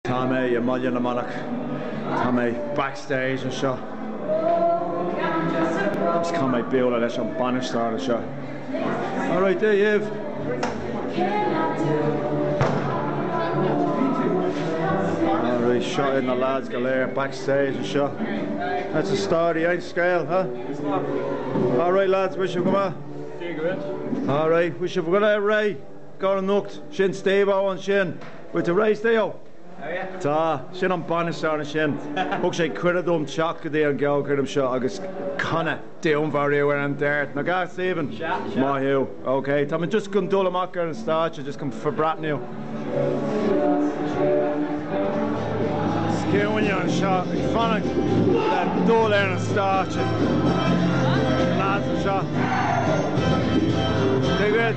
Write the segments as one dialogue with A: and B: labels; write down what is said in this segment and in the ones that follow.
A: Tá mé i mBaile na Manach. Tá mé backstage anseo agus tá mé bualadh leis an bainisteoir anseo. Alright, Dia dhaoibh! Alright, seo iad na lads go léir backstage anseo. What's the story, aon scéal, huh? Alright lads, bhfuil sibh go maith? Sea go bhfuil. Alright, bhfuil sibh go léir réidh? Don anocht, sin Steve-O ansin. Bhfuil tú réidh Steve-O!
B: Tá, sin
A: an bainisteoir ansin. Thug sé cuireadh dom teacht go dtí an gceolchoirm seo agus canadh. Dúnmharú ar an Dart, nach ea, Stephen? Sea, sea. Maith thú. Ok, tá mé just chun dul amach ar an stáitse, just chun forbreathnú. Is ciúin anseo, ag fanacht le dul ar an stáitse. Na lads anseo. Take it?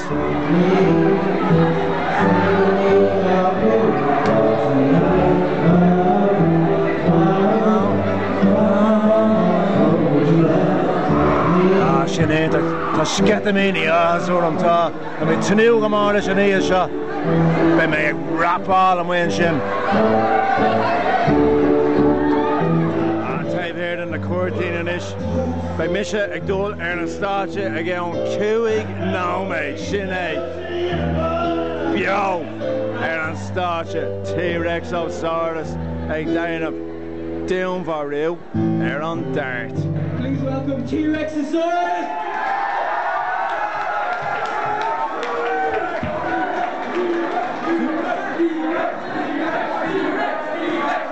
A: Sin é, tá sceitimíní áthais orm tá, tá mé ag tnúth go mór leis an oíche seo. Beidh mé ag rapáil amuigh ansin. Taobh thiar de na cuirtíní anois. Beidh mise ag dul ar an stáitse i gceann cúig nóiméad, sin é, beo ar an stáitse, T-Rex Ó Saurus ag déanamh dúnmharú ar an dart. Please
B: welcome T-Rex Ó Saurus!